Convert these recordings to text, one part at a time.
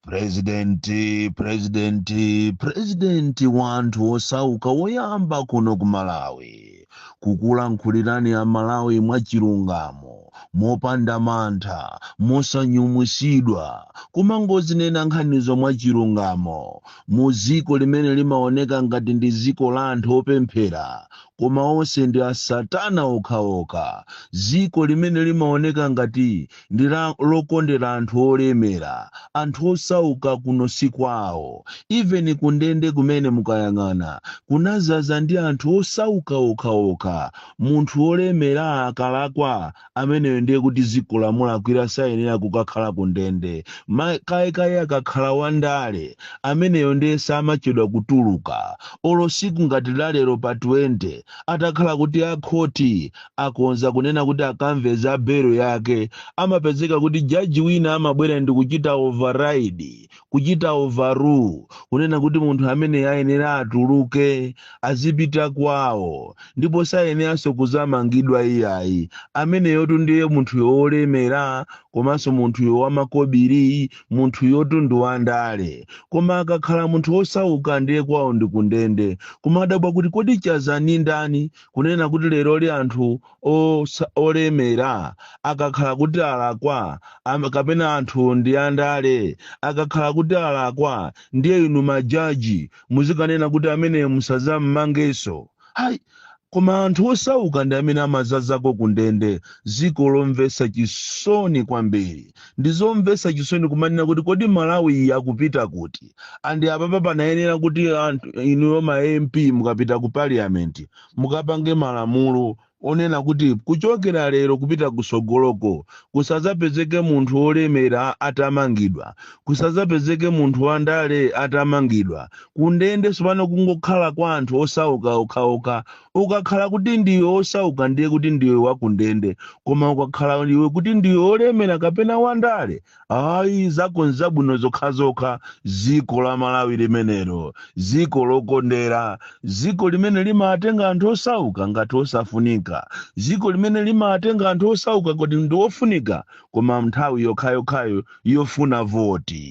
Presidenti, presidenti, presidenti wanthu osauka woyamba kuno ku Malawi kukulankhulirani a Malawi mwachilungamo mopanda mantha mosanyumwisidwa kumangozinena nkhanizo mwachilungamo mu dziko limene limaoneka ngati ndi dziko la anthu opemphera Koma onse ndi a satana okhaokha. Dziko limene limaoneka ngati ndi lokondera anthu olemera, anthu osauka kuno si kwawo. Even ku ndende kumene mukayang'ana kunadzaza ndi anthu osauka okhaokha. Munthu olemera akalakwa ameneyo ndiye kuti ziko lamulakwira sayenera kukakhala ku ndende makamaka akakhala wandale ameneyo ndiye samachedwa kutuluka olo siku ngati lalero pa 20 atakhala kuti akhoti akonza kunena kuti akamve za belo yake amapezeka kuti jaji wina amabwera ndi kuchita override Kuchita overrule, kunena kuti munthu ameneyi ayenera atuluke, azipita kwawo, ndipo sayeneranso kuzamangidwa iyayi, ameneyotu ndiye munthuyo wolemera komanso munthuyo wamakobiri, munthuyotu ndi wandale. Koma akakhala munthu wosauka ndiye kwawo ndi kundende. Kumadabwa kuti kodi Chaza ndi ndani? Kunena kuti leroli anthu osa- olemera akakhala kuti alakwa am- kapena anthu ndi andale akakhala kuti alakwa ndiye inu majaji muzikanena kuti amene musazammangenso ayi koma anthu osauka ndi amene amazazako kundende ziko lomvesa chisoni kwambiri ndi zomvesa chisoni kumanena kuti kodi malawi iyi akupita kuti andi apapa panayenera kuti anthu inuyo ma mp mukapita ku parliament mukapange malamulo onena kuti kuchokera lero kupita kusogoloko kusazapezeke munthu olemera atamangidwa kusazapezeke munthu wandale atamangidwa kundende sopano kungokhala kwa anthu osauka okhaokha ukakhala kuti ndiwe osauka ndiye kuti ndiwe wakundende koma ukakhala iwe kuti ndiwe olemera kapena wandale ayi zako nzabwino zokhazokha ziko la malawi limenelo ziko lokondera ziko limene limatenga anthu osauka ngati osafunika ziko limene limatenga anthu osauka kuti ndi ofunika koma nthawi yokhayokhayo yofuna voti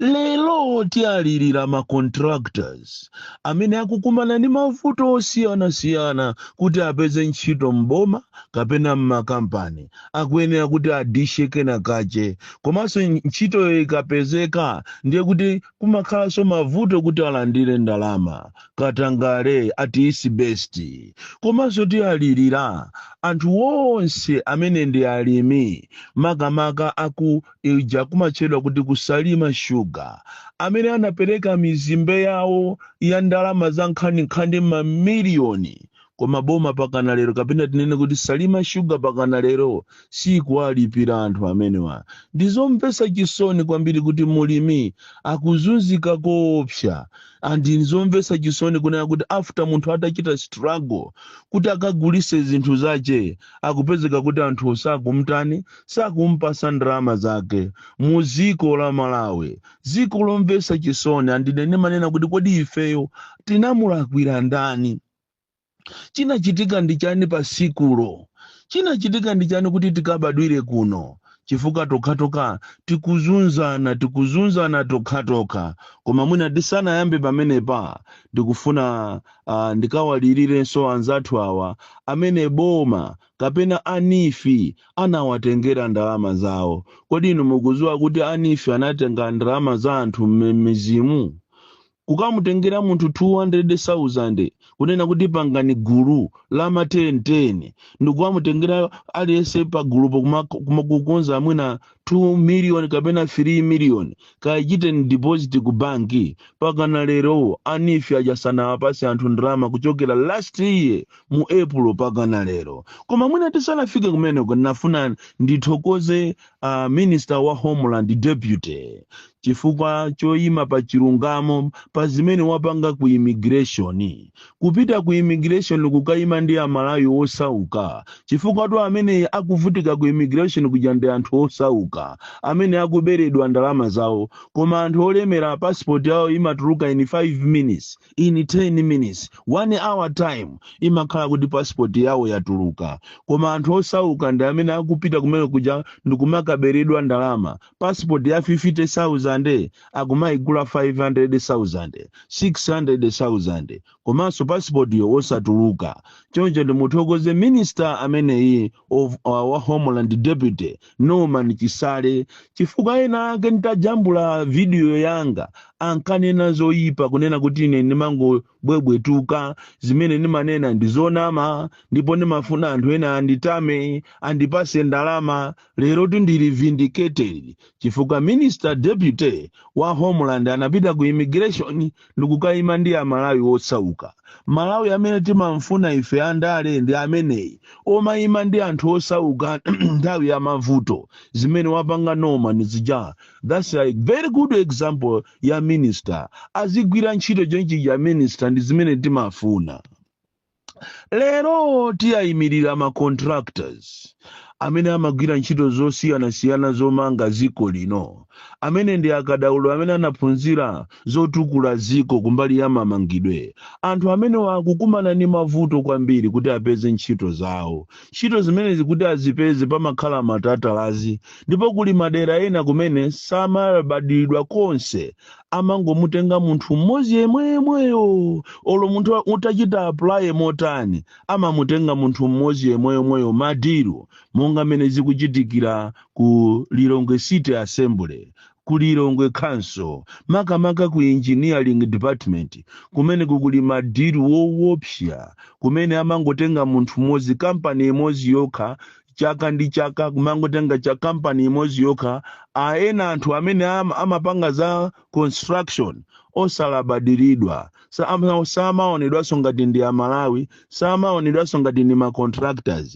Lero tialirira ma contractors amene akukumana ndi mavuto osiyanasiyana kuti apeze ntchito m'boma kapena m'makampani. Akuyenera kuti adishe kenakache. Komanso ntchitoyo ikapezeka ndiye kuti kumakhalanso mavuto kuti alandire ndalama. Katangale at its best. Komanso tialirira anthu onse amene ndi alimi makamaka a ku ija kumatchedwa kuti ku Salima Sugar, amene anapereka mizimbe yawo ya ndalama za nkhaninkhani mamiliyoni koma boma pakana lero kapena tinene kuti Salima Sugar pakana lero sikuwalipira anthu amenewa. Ndi zomvetsa chisoni kwambiri kuti mulimi akuzunzika koopsa and ndi zomvetsa chisoni kunena kuti after munthu atachita struggle kuti akagulise zinthu zache akupezeka kuti anthu sakumtani sakumpasa ndalama zake mu dziko la Malawi dziko lomvesa chisoni and ine ndimanena kuti kodi ifeyo tinamulakwira ndani chinachitika ndi chani pa tsikulo chinachitika ndi chani kuti tikabadwire kuno chifukwa tokhatokha tikuzunzana tikuzunzana tokhatokha koma mwina tisanayambe pamenepa ndikufuna uh, ndikawalirirenso anzathu awa amene boma kapena a NEEF anawatengera ndalama zawo. Kodi inu mukudziwa kuti a NEEF anatenga ndalama za anthu m'midzimu? Kukamutengera munthu 200,000 kunena kuti pangani gulu la ma 10 10 ndikukamutengera aliyense pagulupo kumakukonza mwina 2 million kapena 3 million kayichiteni deposit ku banki pakana lero a NEEF aja sanawapase anthu ndalama kuchokera last year mu April pakana lero koma mwina tisanafike kumeneko ndinafuna ndithokoze uh, minister wa homeland deputy chifukwa choima pa chilungamo pa zimene wapanga ku immigration. Kupita ku immigration kukaima ndi a Malawi osauka chifukwatu amene akuvutika ku immigration kuja ndi anthu osauka amene akuberedwa ndalama zawo koma anthu olemera passport yawo imatuluka in 5 minutes, in 10 minutes, 1 hour time imakhala kuti passport yawo yatuluka koma anthu osauka ndi amene akupita kumene kuja ndikumakaberedwa ndalama passport ya 50000 akumaigula 500000 600000 komanso passportyo osatuluka choncho ndimuthokoze minister ameneyi of uh, wa homeland deputy norman chisale chifukwa ena ake nditajambula video yanga ankanena zoyipa kunena kuti ine ndimango bwebwetuka zimene ndimanena ndi zonama ndipo ndimafuna anthu ena anditame andipase ndalama lero tindili vindicated chifukwa minister deputy wa homeland anapita ku immigration ndikukayima ndi amalawi osauka malawi amene timamfuna ife andale ndi ameneyi omayima ndi anthu osauka nthawi ya mavuto zimene wapanga norman zija That's a very good example ya minister azigwira ntchito ntchito ya minister ndi zimene timafuna lero tiyayimirira ma contractors amene amagwira ntchito zosiyanasiyana zomanga dziko lino amene ndi akadaulo amene anaphunzira zotukula dziko kumbali ya mamangidwe anthu amenewa akukumana ndi mavuto kwambiri kuti apeze ntchito zawo Ntchito zimenezi kuti azipeze pamakhala matatalazi ndipo kuli madera ena kumene samalabadiridwa konse, amangomutenga munthu mmodzi yemweyomweyo olo munthu utachita apply motani amamutenga munthu mmodzi yemweyomweyo ma deal monga mmene zikuchitikira ku Lilongwe City Assembly ku Lilongwe Council makamaka ku Engineering Department kumeneko kuli ma deal woopsa kumene amangotenga munthu mmodzi kampani imodzi yokha chaka ndi chaka kumangotenga cha kampani imodzi yokha a ena anthu amene am- amapanga za construction osalabadiridwa Sama- samaonedwanso ngati ndi amalawi samaonedwanso ngati ndi macontractors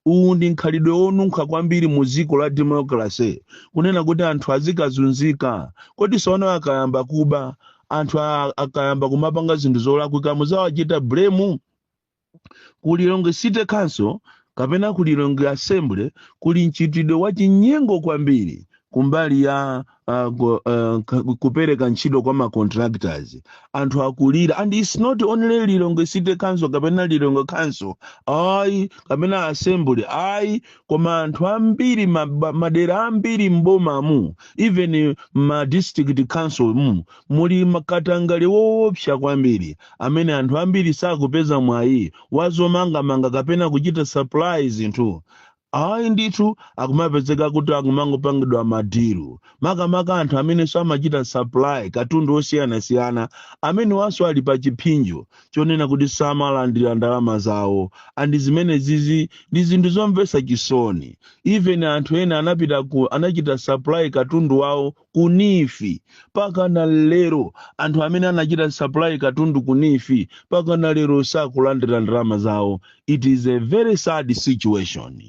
uwu ndi mkhalidwe wonunkha kwambiri mu dziko la democracy kunena kuti anthu azikazunzika kodi sono akayamba kuba anthu a- akayamba kumapanga zinthu zolakwika muzawachita blame ku lilongwe city council kapena ku lilongwe assembly kuli mchitidwe wa chinyengo kwambiri kumbali ya uh, go, uh, ka- kupereka ntchito kwa macontractors anthu akulira and its not only lilongwe city council kapena lilongwe council ayi kapena assembly ayi koma anthu ambiri ma- ba- madera ambiri m'bomamu even ma district council mu muli makatangale woopsa kwambiri amene anthu ambiri sakupeza mwayi wa zomangamanga kapena kuchita supply zinthu ayi ndithu akumapezeka kuti akumangopangidwa madilu makamaka anthu amenenso amachita supply katundu osiyanasiyana amenewanso ali pa chiphinjo chonena kuti samalandira ndalama zawo and zimene zizi ndi zinthu zomvetsa chisoni even anthu ena anapita ku anachita supply katundu wawo ku NEEF pakana lero anthu amene anachita supply katundu ku NEEF pakana lero sakulandira ndalama zawo it is a very sad situation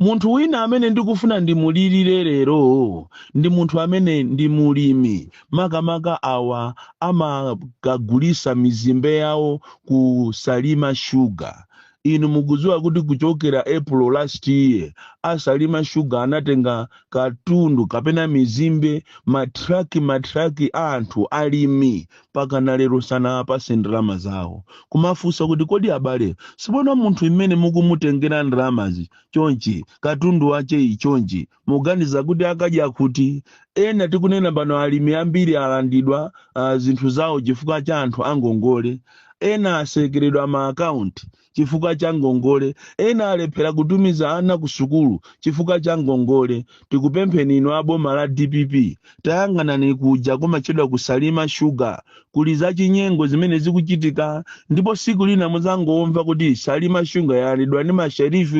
munthu wina amene ndikufuna ndimulirire lero ndi munthu amene ndi mulimi makamaka awa amakagulisa mizimbe yawo ku Salima Sugar Inu mukudziwa kuti kuchokera Epulo last year a Salima Sugar anatenga katundu kapena mizimbe ma truck ma truck a anthu alimi pakana lero sanawapase ndalama zawo. Kumafunsa kuti kodi abale tsopano munthu mmene mukumutengera ndalamazi chonchi katundu wacheyi chonchi muganiza kuti akadya kuti ena tikunena pano alimi ambiri alandidwa uh, zinthu zawo chifukwa cha anthu angongole ena asekeredwa ma akaunti chifukwa cha ngongole ena alephera kutumiza ana ku sukulu chifukwa cha ngongole tikupempheni inu a boma la DPP tayang'anani kuja kumatchedwa ku Salima Sugar Kuli zachinyengo zimene zikuchitika ndipo siku lina muzangomva kuti Salima Sugar yalandidwa ndi ma sheriff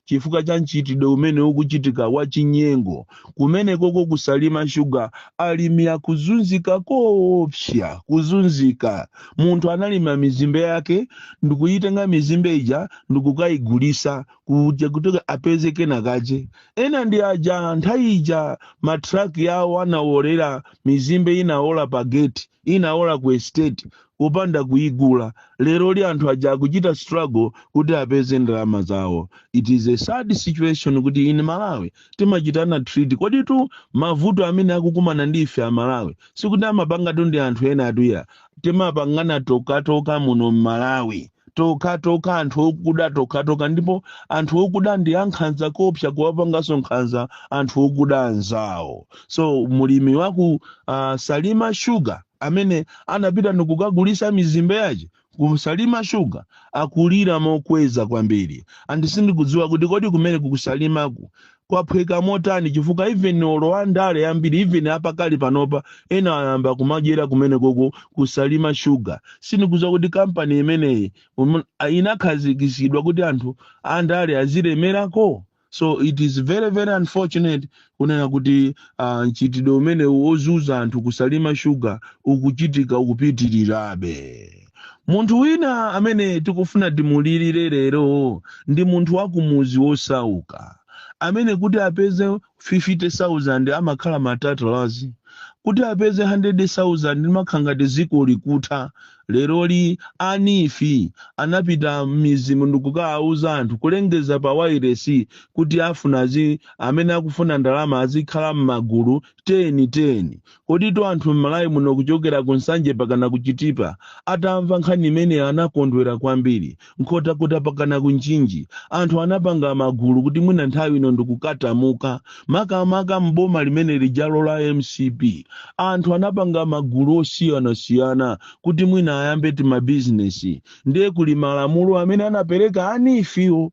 chifukwa cha mchitidwe umene ukuchitika wa chinyengo kumenekoko ku Salima Sugar alimi akuzunzika koopsya kuzunzika munthu analima mizimbe yake ndikuyitenga mizimbe ija ndikukayigulisa kuja kuti apeze kenakache ena ndi aja nthawi ija matraki yawo anaolera mizimbe inaola pa gate inaola ku estate kupanda kuigula lero li anthu aja akuchita struggle kuti apeze ndalama zawo it is a sad situation kuti in Malawi timachitana treat koditu mavuto amene akukumana ndi ife aMalawi sikuti amapangatu ndi anthu ena atuya timapangana tokatoka muno m'Malawi tokatoka anthu okuda tokatoka ndipo anthu okuda ndi ankhanza koopsa kuwapanganso nkhanza anthu okuda anzawo so mulimi waku uh, Salima Sugar amene anapita ndikukagulisa mizimbe yace ku Salima Sugar akulira mokweza kwambiri and sindikudziwa kuti kodi kumeneku ku Salimaku kwaphweka motani chifukwa even olo andale ambiri even apakali panopa ena ayamba kumadyera kumenekoko ku Salima Sugar sindikudziwa kuti kampani imeneyi um, inakhazikitsidwa kuti anthu andale azilemerako so it is very very unfortunate kunena kuti uh, mchitidwe umenewu wozunza anthu ku Salima Sugar ukuchitika ukupitirirabe munthu wina amene tikufuna timulirire lero ndi munthu wa kumuzi wosauka amene kuti apeze 50,000 amakhala matatalazi kuti apeze 100,000 limakhala ngati dziko likutha leroli a neef anapita m'mizimu ndikukawauza anthu kulengeza pa wairesi kuti afuna azi amene akufuna ndalama azikhala m'magulu 10 10 Koditu anthu m'Malawi muno kuchokera ku Nsanje pakana ku Chitipa atamva nkhani imeneyi anakondwera kwambiri. Nkhotakota pakana ku Mchinji anthu anapanga magulu kuti mwina nthawi ino ndikukatamuka. Makamaka m'boma limene lijalo la mcp anthu anapanga magulu osiyanasiyana kuti mwina ayambe timabizinesi. Ndiye kuli malamulo amene anapereka a NEEF-wo.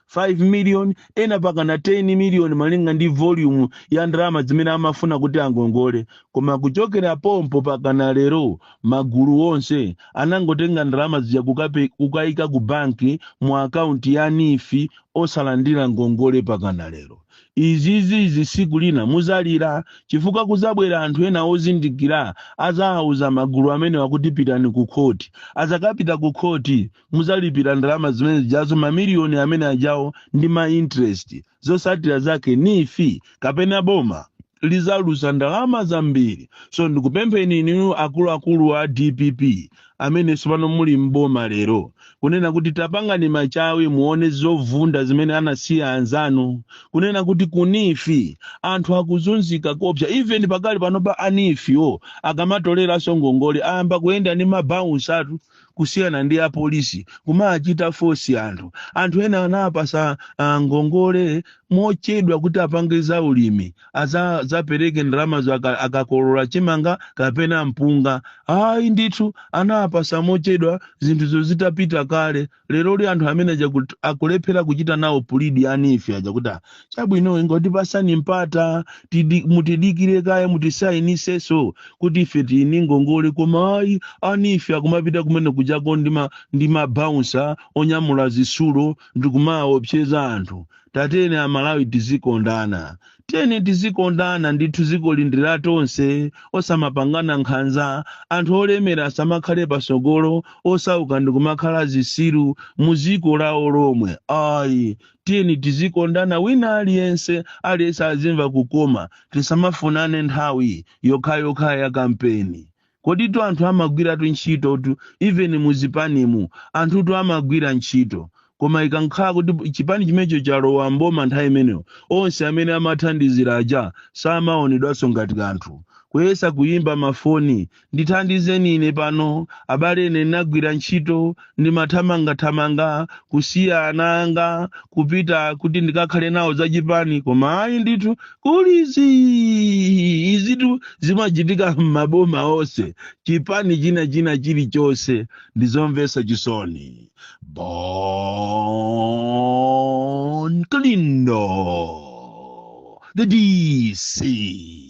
5 million, ena pakana 10 million malinga ndi volume ya ndalama zimene amafuna kuti angongole. Koma kuchokera pompo pakana lero magulu onse anangotenga ndalama zija kukape, kukaika ku bank mu account ya neef osalandira ngongole pakana lero. Izizizi siku lina muzalira chifukwa kuzabwera anthu ena ozindikira azaauza magulu amenewa kuti pitani ku court. Azakapita ku court, muzalipira ndalama zimene zijazo mamiliyoni amene ajawo ndi ma interest zosatira zake neef kapena boma lizaluza ndalama zambiri so ndikupempheni inu akuluakulu a dpp amene sopano muli mboma lero kunena kuti tapangani machawi muone zovunda zimene anasiya anzanu kunena kuti ku neef anthu akuzunzika kopsa even pakali panopa a neef-wo akamatoleranso ngongole ayamba kuyenda ndi mabaunsatu kusiyana ndi apolisi kumachita fosi anthu anthu ena anapasa ah, ngongole mochedwa kuti apange za ulimi aza- zapereke ndalamazo aka- akakolola chimanga kapena mpunga ayi ndithu anapasa mochedwa zinthuzo zitapita kale leroli anthu amene aja kut- akulephera kuchita nawo pulidi a neef aja kuti "Ah, chabwino ingotipasani mpata tidi- mutidikire kaye mutisayiniseso kuti ife tiyini ngongole koma ayi a neef akumapita kumene kujako ndi ma- ndi mabaunsa onyamula zisulo ndikumaopseza anthu tatiyeni amalawi tizikondana Tiyeni tizikondana ndithu zikoli ndi latonse osamapangana nkhanza anthu olemera asamakhale pasogolo osauka ndikumakhala zisiru muziko lawo lomwe ayi tiyeni tizikondana wina aliyense aliyense azimva kukoma tisamafunane nthawi yokhayokha yakampeni Koditu anthu amagwiratu ntchitotu even muzipanimu anthutu amagwira ntchito koma ikangokhala kuti chipani chimenecho chalowa m'boma nthawi imeneyo onse amene amathandizira aja samaonedwanso ngati kanthu. Kuyesa kuyimba mafoni ndithandizeni ine pano abale ine ndinagwira ntchito ndimathamangathamanga kusiya ana anga kupita kuti ndikakhale nawo zachipani koma ayi ndithu kuli zii izitu zimachitika m'maboma onse chipani china china chilichonse ndizomvetsa chisoni Bon Kalindo the DC